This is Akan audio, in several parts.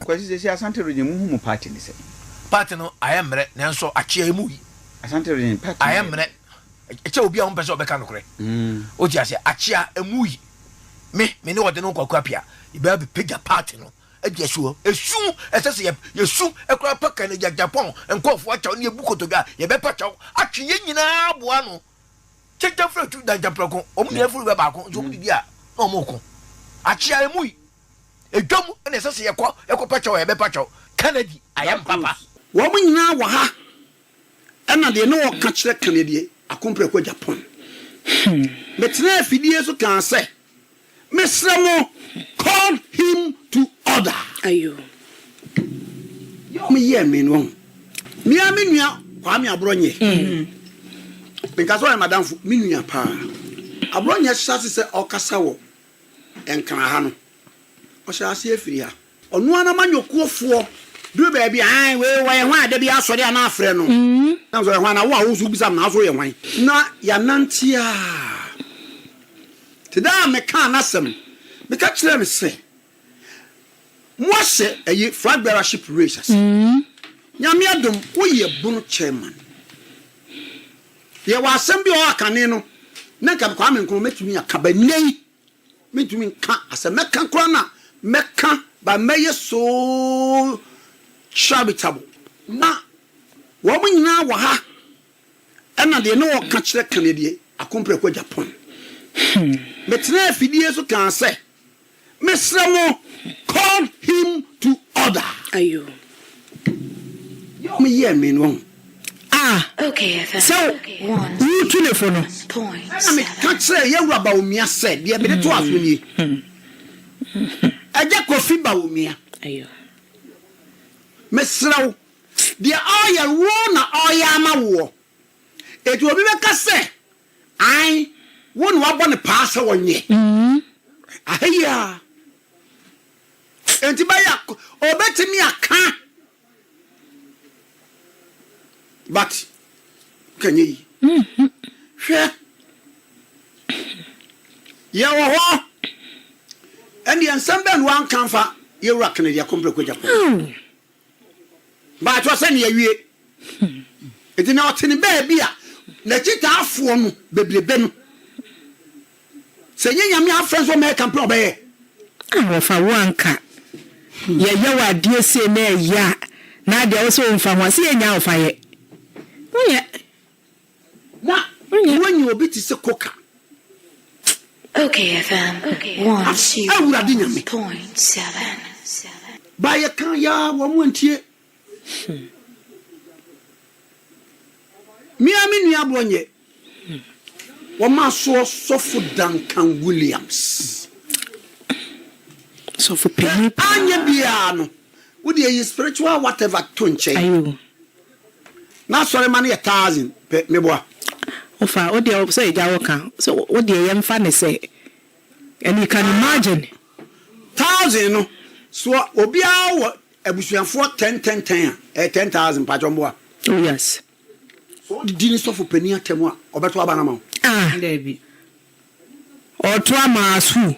Kwasi sɛ si Asante region mu hu mu party ne sɛ. Party no ayɛ mmerɛ nanso akyea emu yi. Asante region party ayɛ mmerɛ. Ɛkyɛ obi a wɔn pɛ sɛ ɔbɛka nokorɛ. O ti aseɛ akyea emu yi. me me ne ɔde no nkɔkɔ apia yɛbɛyɛ bɛpagya paati no adi asuo esu ɛsɛ sɛ yɛsu ɛkora paka no gyagyapɔn nkɔɔfoɔ akyɛw ne yɛbu kotodwa a yɛbɛpa kyɛw atwe yɛn nyinaa aboa no kyɛnkyɛn firi tu dankyɛmprɛko wɔn nyinaa firi bɛ baako nso wɔn didi a na wɔn ko akyea emu yi edwam na ɛsɛ sɛ yɛkɔ yɛkɔ pa kyɛw a yɛbɛpa kyɛw kennedy ayɛ mpapa wɔn nyinaa wɔ ha Ɛna deɛ na ɔka kyerɛ ka nedeɛ akomprɛ kɔ Japan. Metenaa afidie so kaa sɛ, Mesrɛ mo, call him to order. Deɛ wɔn yɛɛ me no wahu. Me ara me nua Kwame Aborɔnyɛ. Menka sɛ ɔyɛ m'adamfo, me nua paa. Aborɔnyɛ hyɛ ase sɛ ɔkasa wɔ Nkran ha no, ɔhyɛɛ aseɛ firi ha. Ɔno ara n'amanyɔkuofoɔ duru baabi a, ae, wei ɔyɛ hwan a da biara asɔre a na afrɛ no? Na nso ɔyɛ hwan? Na wo a wo nso wobisa no, na wo nso woyɛ hwan? Na yɛanante ara te dɛ a mekaa n'asɛm, meka kyerɛɛ no sɛ, Moahyɛ ayi, flag bearership race ase. Nyame adom, woyɛ bono chairman. Yɛwɔ asɛm bi a ɔwɔ hɔ a kane no, na nka Kwame Nkrumah mɛtumi aka, but nnɛ yi, Mentumi nka a sɛ mɛka koraa no a mɛka but mɛyɛ so charitable. Na wɔn nyinaa wɔ ha ɛna deɛ na ɔka kyerɛ ka neɛ deɛ Akomprɛ kɔ Japan. Metenaa afidie so kaa sɛ, Mesrɛ mo call him to order. Yɛ ɔmo yɛɛ me no wahu. a sɛ woretu no fo no. Ɛnna meka kyerɛɛ Yawura Bawumia sɛ, Deɛ mede to aso nie. Agya Kofi Bawumia, mesrɛ wo, deɛ ɔreyɛ wo na ɔreyɛ ama woɔ. Enti obi bɛka sɛ, Ae, wo na woabɔ no paa sɛ ɔnyɛ. Aha yi ara. Enti bɛyɛ a, ɔbɛtumi aka. But ka nyɛ yi. Hwɛ. Yɛ wɔ hɔ. Ɛndeɛ nsɛm bɛn na wanka nfa yɛ wura Kennedy Akompreko Agyapong. But ɔsɛ ne yɛwie. Ɛnti na ɔte ne baabi a n'akyitaafoɔ no bebrebe no. Sɛ nyɛ nyame afrɛ nso ɔmɛyɛ campaign ɔbɛyɛ. Ah wɔfa wo anka yɛyɛ wo adeɛ sei na ɛyɛ a na adeɛ wo se wo nfa ho a se yɛ nyaa wo fa yɛ wo nyɛ na wo nyɛ obi te se koka. Okay FM one zero point seven. Ba yɛ ka yaa wɔn antie. Me ara me nua Bronye, wɔasoɔ Sɔfo Duncan Williams. Hwɛ, anyɛ biara no, wo deɛ yi spiritual whatever to nkyɛn. N'asɔremma no yɛ thousand pɛ, meboa. Ɔfa, wo deɛ sɛ ɛgya wo ka, sɛ wo deɛ yɛmfa no sɛ, and you can imagine. Thousand no, soɔ, obiara wɔ Abusuafoɔ ten ten ten a, ɛyɛ ten thousand mpakyɛw mboa. Oh yes. Sɛ ɔde di ne sɔfo panin atɛm a, ɔbɛto aba no ama wo? Ah! Dabi. Ɔɔto ama as who?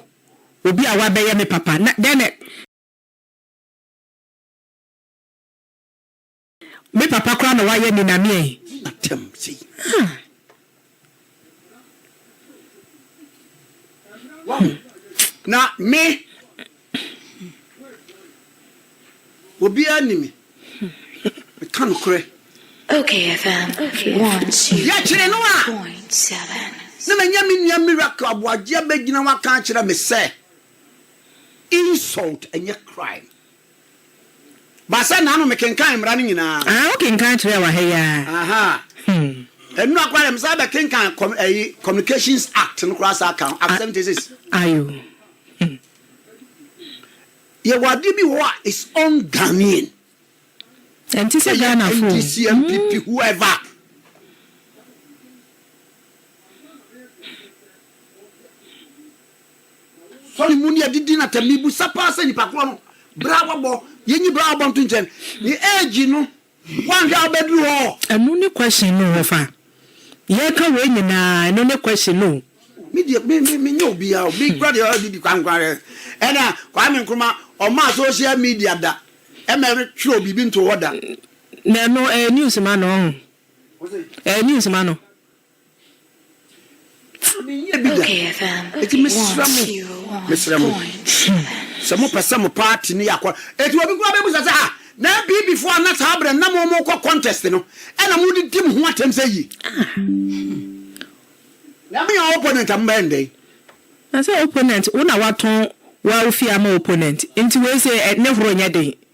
Obi a wabɛyɛ me papa na dɛn na. Me papa koraa na wayɛ me na meɛ. Atam sei. Ah. Wahu. Na me. Obiara ni me. Meka nokorɛ. Okay FM 102.7. Na manya me nua Miracle Aboagye abɛgyina ho aka akyerɛ me sɛ, Insult nyɛ crime. Ba sɛ n'ano mekenkan mmara no nyinaa. Aa wokenkan kyerɛɛ wa ha yi aa. Aha hmm. Ɛnura koraa deɛ mesan bɛ kenkan com ɛyi communications act no koraa saa kan act seventy six. Ayo. Hmm. Yɛwɔ adeɛ bi wɔ a is on Ghanaian. Ɛnti sɛ Ghana fo. Ɛyɛ NDC MPP hmm. whoever. Kɔ ne mu ne adidi na tɛm. Mibisa paa sɛ nipa korɔ no berɛ a wabɔ, yɛnyi berɛ a wabɔ nto nkyɛn, ne age no woanhwɛ a wobɛduru hɔ? Ɛno ne question no wɔfa yɛka wei nyinaa ɛno ne question no o. Me deɛ me me menyɛ obiaa o, me kora deɛ ɔyɛ didi kwan kwan deɛ ɛna Kwame Nkrumah ɔmaa social media da ɛma ɛtwerɛɛ biribi ntoo hɔ da. Na ɛno ɛyɛ news ma no ɔho ɛyɛ news ma no. Menyɛɛ bi da. Enti mesrɛ mo, mesrɛ mo, sɛ mopɛ sɛ mo party no yɛ akɔ. Enti obi koraa bɛbisa sɛ, Ah, na NPP foɔ a na saa berɛ no na mo mokɔ contest no, ɛna mode di mo ho atɛm sɛ yie? Na monyɛ opponent a mobɛyɛ no dɛn? Na sɛ opponent, wo na woatɔn w'awofie ama opponent, enti wei sei, ne horo nyɛ den.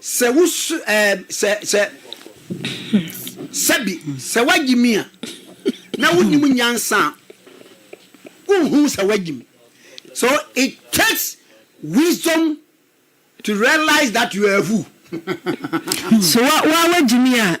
Sɛ wo so ɛɛ sɛ sɛ sɛbi sɛ wagye mi a na wonim nyansa a wonhu sɛ wagye mi so it takes wisdom to realize that you are a fool. So wa wa wagye mi a.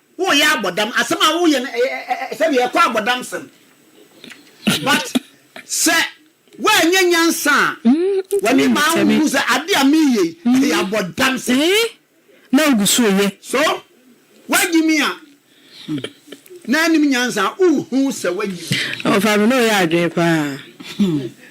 Woyɛ abɔdam asɛm a woyɛ no sɛdeɛ ɛkɔ abɔdam sɛm but sɛ woanyɛ nyansa a w'ani maa wo hu sɛ adeɛ a meyɛ yi ɛyɛ abɔdam sɛm na wogu so yɛ so woagye mi a na anim nyansa a wohu sɛ woagye mi. Ɔfa me na ɔyɛ adwene paa.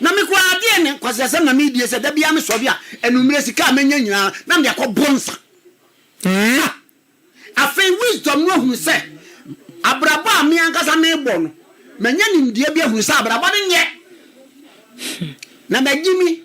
Na me koraa adeɛ ne nkwaseasɛm na medie sɛ da biara me sɔre a anummerɛ sika a mɛnya nyinaa na mede akɔ boro nsa. Haa! Afei Wisdom no ahunu sɛ abrabɔ a me ankasa mebɔ no manya nimdeɛ bi ahunu sɛ abrabɔ no nyɛ na magyimi.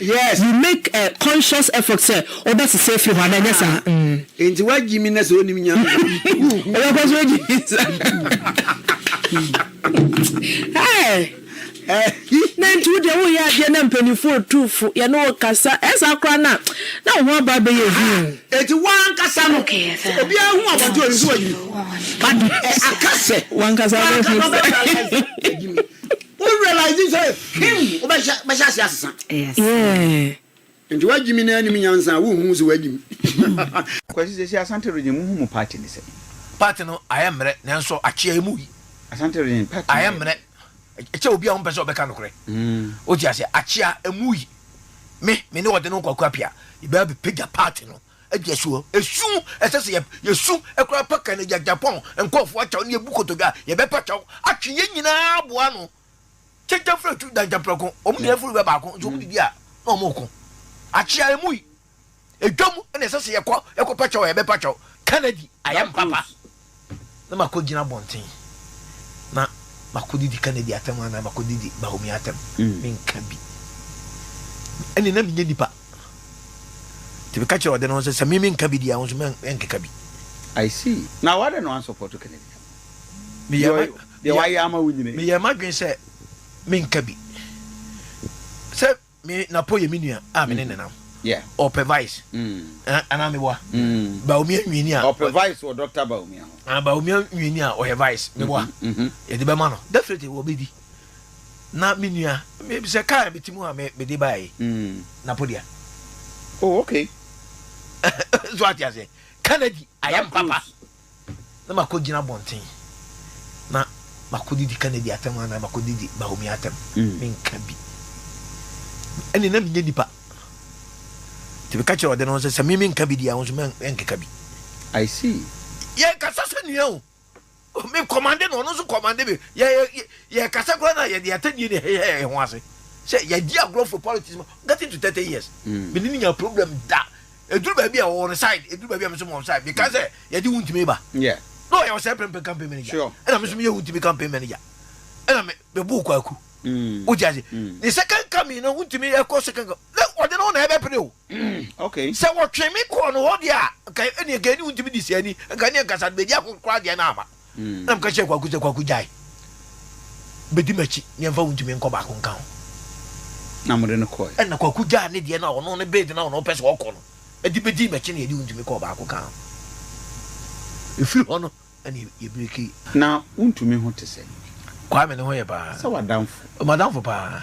Yes. You make a conscious effort sɛ wobɛsesa afiri hɔ anaa ɛnyɛ saa? Ah, enti wagye mi na sɛ onim Nyame a. Ɔbɛkɔ so agye mi saa. Hey! na nti wodeɛ woyɛ adeɛ na mpanimfoɔ ɔtu fo yɛne wo kasa ɛsaa koraa no a na wo ho aba bɛyɛ hu ɛti woankasa no sɛ obiara hu abɔnte ɔnim sɛ wayimi but aka sɛ woankasa no hu sɛ Wo realize sɛ him wobɛhyɛ bɛhyɛ ase asesa. Yeah. Nti wagyimi na anim nyansa a wonhu sɛ wagyimi. Kwasi sɛsi Asante region muhu mo party ne sɛn? Party no ayɛ mmerɛ nanso akyea emu yi. Asante region party no ayɛ mmerɛ. Ɛkyɛ obi a ɔmpɛ sɛ ɔbɛka nokorɛ. Wote aseɛ? Akyea emu yi. Me, me ne ɔde no Kwaku Appiah yɛbɛba bɛpagya party no. Adi asu hɔ. Esu, ɛsɛ sɛ yesu koraa pa ka N'agya Japɔn nkurɔfo akyɛw ne yebu kotodwe a, yɛbɛpa kyɛw atwe yɛn nyinaa aboa ano. Kyenkyen firi atu dankyɛn prɛko, wɔn nyinaa firi bɛ baako, nso wɔdidi a, na wɔreko. Akyea emu yi, edwam na ɛsɛ sɛ yɛkɔ, yɛkɔpa kyɛw a, yɛbɛpa kyɛw. Ka no adi, ayɛ mpapa. na makɔgyina abɔnten na makɔdidi Kennedy atɛm anaa makɔdidi Dahomey atɛm mm. menka bi ɛne na menyɛ nipa nti meka kyerɛ ɔde no sɛ sɛ me menka bi deɛ a wo nso menkeka bi I see. Na wade no ansɔpɔto Kennedy no. Meyɛ ma dwen sɛ menka bi. Sɛ Me Napo yɛ me nua a me ne ne nam. Ɔpɛ vice. Anaa me boa. Baomia nwiini a. Ɔpɛ vice wɔ Dr. Baomia ho. Anaa Baomia nwiini a ɔyɛ vice. Me boa. Yɛde bɛma no. Definitely wɔbɛdi. Na me nua, sɛ kaa me ti mu a mede bae. Napo dia. Oh, okay. So ate ase. Kennedy, I am papa. na makɔgyina abɔnten na makɔdidi Kennedy atɛm anaa makɔdidi Bahomi atɛm mm. menka bi ɛne na menyɛ nipa nti meka kyerɛ ɔde no sɛ sɛ meme nka bi deɛ wo nso menkeka bi I see. yɛ kasa sɛ nua o me kɔmande no ɔno nso kɔmande me yɛ kasa koraa na yɛde atɛdeɛ ne hɛhɛ ho ase sɛ yɛdi agorɔ for politics ma getting to thirty years mene ne nya problem da eduru baabi a ɔwɔ no side eduru baabi a me nso mɔ side meka mm. sɛ yɛde wo ntumi ba na ɔyɛ ɔsɛ pɛmpɛ campaign manager ɛna me nso meyɛ wo ntumi campaign manager ɛna me bebo kwaku mm. wogye ase mm. ne second coming no wontumi ɛkɔ second coming na ɔde no na ɛbɛpene o sɛ wɔtwe me kɔɔ no hɔ deɛ a ɛne ɛka ɛne wontumi de siani ɛka ne ɛkasa bɛdi akokora deɛ no ama Ɛna meka kyerɛɛ Kwaku sɛ, Kwaku, gyae. Bɛdi m'akyi na yɛmfa wo ntumi nkɔ baako nka ho. Na mode no kɔe. Ɛna Kwaku gyaa ne deɛ no a ɔno ne bed no a ɔno ɔpɛ sɛ ɔkɔ no de bɛdii m'akyi na yɛde wo ntumi kɔɔ baako ka ho. Ɛfiri hɔ no, ɛna yɛbrekii. Na wo ntumi ho te sɛ? Kwame ne ho yɛ paa. Sɛ w'adamfo. M'adamfo paa.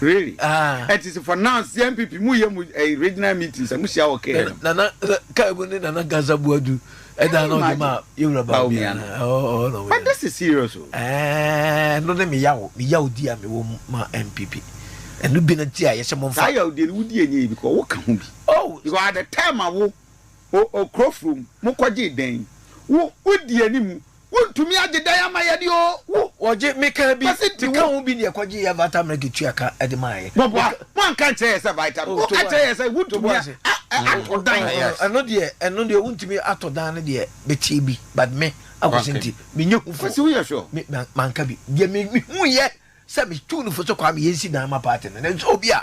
Really? Ah. It is for now CNPP mu yɛ mu eh, regional meetings a mu hyia wɔ kɛɛ no. Nana kaa mu ne Nana Gaza Buadu ɛda na ɔde ma yɛwura Baomia no. But this is serious o. Ɛɛ no ne meyaw meyaw di a mewɔ mu ma MPP. Ɛno bi na ti a yɛhyɛ mo nfa. Saa yaw di no wodi enye bi kɔ woka ho bi. Oh. Because at the time a wo okuro from mo kɔgye dɛn wo wodi anim Wontumi agye dan ama yɛ de oo. Wo wɔgye me kaa bi. Kwasi nti wo. Meka ho bi deɛ kɔgye yɛ Vitamilk ketua ka de maa yɛ. Bɔboa, moanka nkyerɛ yɛ sɛ Vitamilk. Mo ka kyerɛ yɛ sɛ wontumi atɔ dan. Yes. Ɛno deɛ ɛno deɛ wontumi atɔ dan no deɛ bɛteɛ bi but me Akwasi nti menyɛ hu fo. Kwasi woyɛ sure? Me ma manka bi. Deɛ me mehuiɛ sɛ metuu no fo sɛ Kwame yɛnsi dan ma party no nanso obi a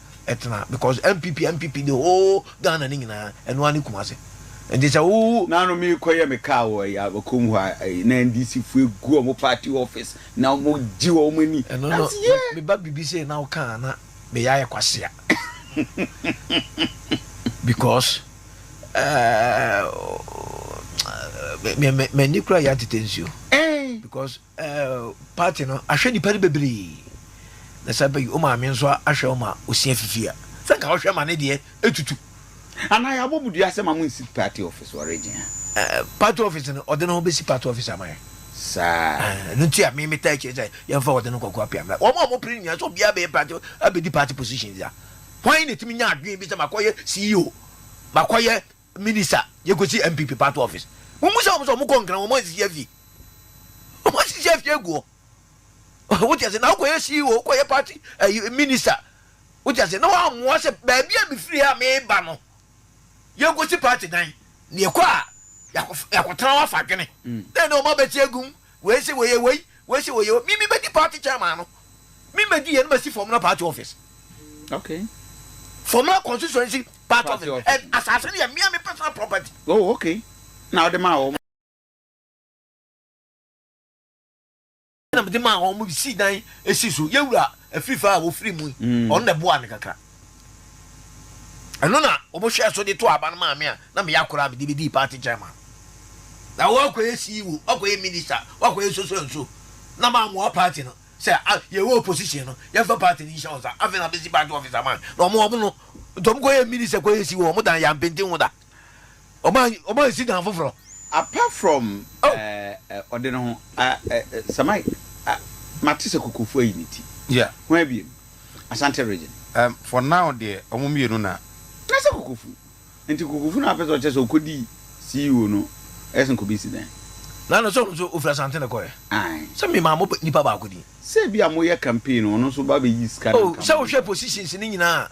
ɛtena because npp npp the whole ghana ne nyinaa ɛno ara ne kumase nti sɛ wo. naano merekɔyɛ me kaa wɔ ɛyɛ abakom hɔ a ɛyɛ na ndc fo egu wɔn party office na wɔn gye wɔn ani ɛno na no ɔsi yɛ me ba biribi sei na woka a na me yɛ ayɛ kwasea because ɛɛ me me m'ani kura yɛ atete nsuo ɛɛn because. ɛɛ party no ahwɛ nipa no bebree na sɛ bɛyi o maame nso ahwɛ o ma osia fifi a sɛ nka ɔhwɛ ma ne deɛ etutu. Anaa yɛ abɔ mu dua sɛ ma mo nsi party office wɔ region ha. Ɛɛ party office no ɔde ne ho bɛsi party office ama yɛ. Saa. Ɛɛ no nti a me me taa akyire sɛ yɛn fa ɔde no kɔkɔ apia mla wɔn a wɔn pere nyinaa sɛ obiara bɛyɛ party abɛdi party position dza wɔn na etimi nya adwene bi sɛ makɔyɛ ceo makɔyɛ Minister yɛkɔsi NPP party office mommisa wɔn sɛ wɔn kɔ Nkran wɔn ansisi afie wɔn ansisi afie agu hɔ wote ase na wokɔyɛ CEO wokɔyɛ party ɛyi eh, minister wote ase na wɔammoa sɛ baabi a mefiri ha meba no yɛnkɔsi party dan na yɛkɔ a yɛakɔtena hɔ afa adwene mm. na ɛne wɔn abɛte agum Wei se wɔyɛ wei, wei se wɔyɛ wei. Me mebɛdi party chairman no. Me medi yei na masi Fomena party office. Okay. Fomena constituency party office. And asase no yɛ me a me personal property. Oh okay. Na wode maa wɔn. Ɛna mede maa wɔn, wɔde sii dan sii so. Yɛn wura Afiifa a wɔfiri mu yi, ɔno na ɛboaa me kakra. Ɛno na wɔhwɛɛ so de too aba no maa me a na meyɛ akwadaa a mede bɛdii party chairman. Na wɔakɔyɛ CEO, wɔakɔyɛ minister, wɔakɔyɛ so so and so. Na mammoa party no sɛ a yɛwɔ opposition no, yɛmfa party no nhyɛ wɔn nsa. Afei na mesi party office ama wɔn. Na wɔn no, nti wɔkɔyɛɛ minister, kɔyɛɛ CEO, wɔdan yɛn, ampenti ho da. Ɔma ɔma nsi dan foforɔ. Apart from eh, ɔde ne ho ah, eh, eh, Sir Mike, ah, mate sɛ Kokofu ayi ne ti. Yeah. Hwan biem? Asante region. Um, for now deɛ, ɔmo mmienu na. Na sɛ Kokofu. Nti Kokofu na apɛ sɛ ɔkyɛ sɛ ɔkɔdi CEO no ɛyɛ sɛ nkɔbi si dan. Na no sɛ ɔno nso ɔfiri Asante na ɛkɔɛ. Ae. Sɛ memaa mo nipa baako din. Sɛ ebia moyɛ campaign no, ɔno nso ba bɛyi sika no Oh, nka sɛ mo. wohwɛ positions no nyinaa a,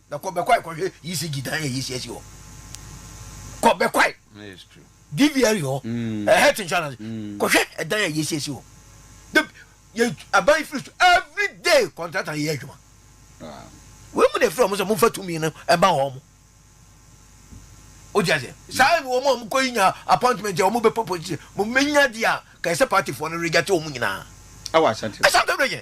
Na kɔ bɛkwae kɔhwɛ ECG dan a yɛsi asi hɔ. Kɔ bɛkwae DVRE hɔ, eh, health insurance, kɔhwɛ ɛdan a yɛsi asi hɔ. De yɛ aban firi so every day contractor yɛ adwuma. Wei mu na efiri wɔn sɛ momfa tumi no ɛma wɔn. Wogye aseɛ? Saa na wɔn a wɔn kɔ yi nya appointment a wɔn bɛ pɔ position. Mo menya deɛ a kɛse party foɔ no rejate wɔn nyinaa. Ɛwɔ Asante. Asante region.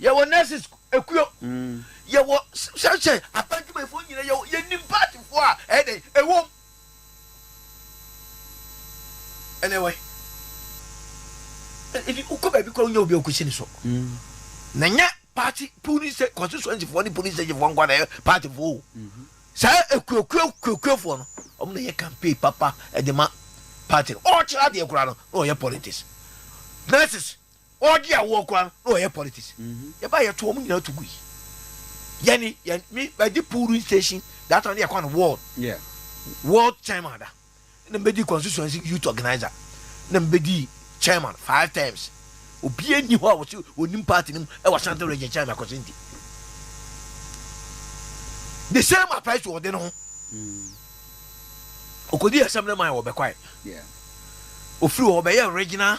yɛwɔ nurses ekuo yɛwɔ sɛsɛ aban dwumayɛfoɔ nyina yɛwɔ yɛnim paatifoɔ a ɛyɛ dɛn ɛwom ɛnɛ wai ɛdi wokɔ baabi kora wonya obi a wokɔsi ne so na nyɛ party police constituency foɔ ne police station foɔ nkwa na ɛyɛ party foɔ o saa ekuokuo kuokuo foɔ no wɔn na yɛ campaign papa ɛde ma party no ɔkyerɛ adeɛ kora no na ɔyɛ politics nurses Ɔɔdi awoɔ koraa no na ɔyɛ politics yɛbae yɛto wɔn nyinaa to gui yɛne yɛn me bɛdi polling station that time yɛ kɔ no ward yeah. ward chairman da na mbɛdi constituency youth organizer na mbɛdi chairman five times obi ani hɔ a wɔsi onim party no mu ɛwɔ asante region chairman akɔsi nti the same applies to ɔde no ho okodi asɛm no ma yɛ wɔbɛkwae ofiri hɔ ɔbɛyɛ regional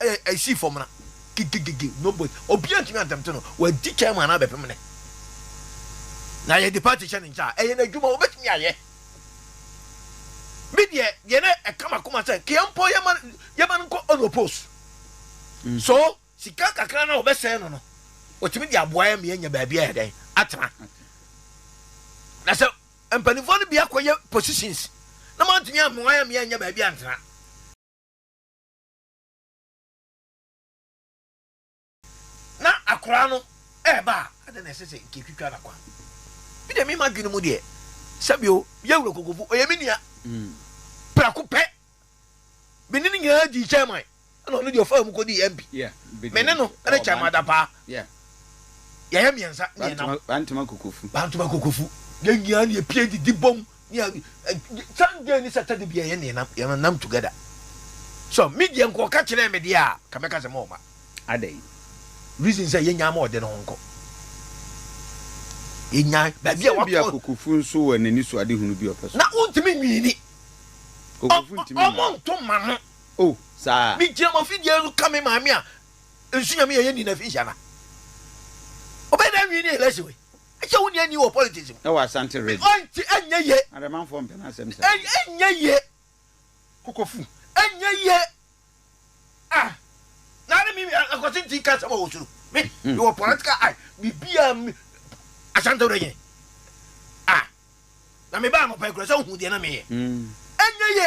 Ɛyɛ Asifoɔ mmara. Gigigigi, nobody, obiara ntumi antɛmte no. Wadi kan ma no abɛpem no. Na yɛde party hyɛ ne nkyɛn a, ɛyɛ n'adwuma, obetumi ayɛ. Me deɛ, deɛ na ɛka m'akoma sɛ, nka yɛmpɔ yɛma no, yɛma no nkɔ on oppose. So, sika kakra no a wɔbɛsɛe no no, wɔtumi de aboa yɛn ma yɛanya baabi ayɛ dɛn? Atena. Na sɛ mpanimfoɔ no bi akɔyɛ positions na moantumi ammoa yɛn ma yɛannya baabi antena. Na akwadaa no reba a, adɛn na ɛsɛ sɛ nka etwitwa no kwan? Me deɛ, me m'adwene mu deɛ, sɛbi o, yɛ wura kokofo, ɔyɛ me nua. Prɛko pɛ, me ne no nyinaa dii chairman, ɛna ɔno deɛ ɔfaa mu kɔ dii MP. Me ne no ne chairman adapaa, yɛyɛ mmiɛnsa, mmienam. Bantama kokofo. Bantama kokofo. Yɛn nyinaa na yɛpie didi bɔ mu. Nea San Jay ne Saturday bia yɛne yɛn nam together so me deɛ nka ɔka kyerɛɛ me deɛ a ka mɛka sɛ mɔma adɛn reason sɛ yɛnya ma ɔde ne ho nkɔ yɛnya baabi a wakɔ bia kokofu nso wɔ n'ani so ade hunu bi ɔpɛ so na wontumi nwiini kokofu ntumi ɔmo nto ma no o oh, saa me gyina mo afidie no ka me maame a nsu nyame yɛ yɛ ni na fi hyɛ na ɔbɛyɛ dɛ nwiini election wei Ɛkyɛ wo nea nni wɔ politics mu. Ɛwɔ Asante Ridge. Ɔn nti ɛnyɛ ye. Aremanfoɔ mpɛ n'asɛm saa. Ɛn ɛnyɛ ye. Kokofu ɛnyɛ ye. Ah na ne me akwasi nti ka asɛm a wɔ soro. Me me wɔ political eye bibia me Asante Ridge. Ah na me baa anɔpa yi kura sɛ wohu deɛ na me yɛ. Ɛnyɛ ye.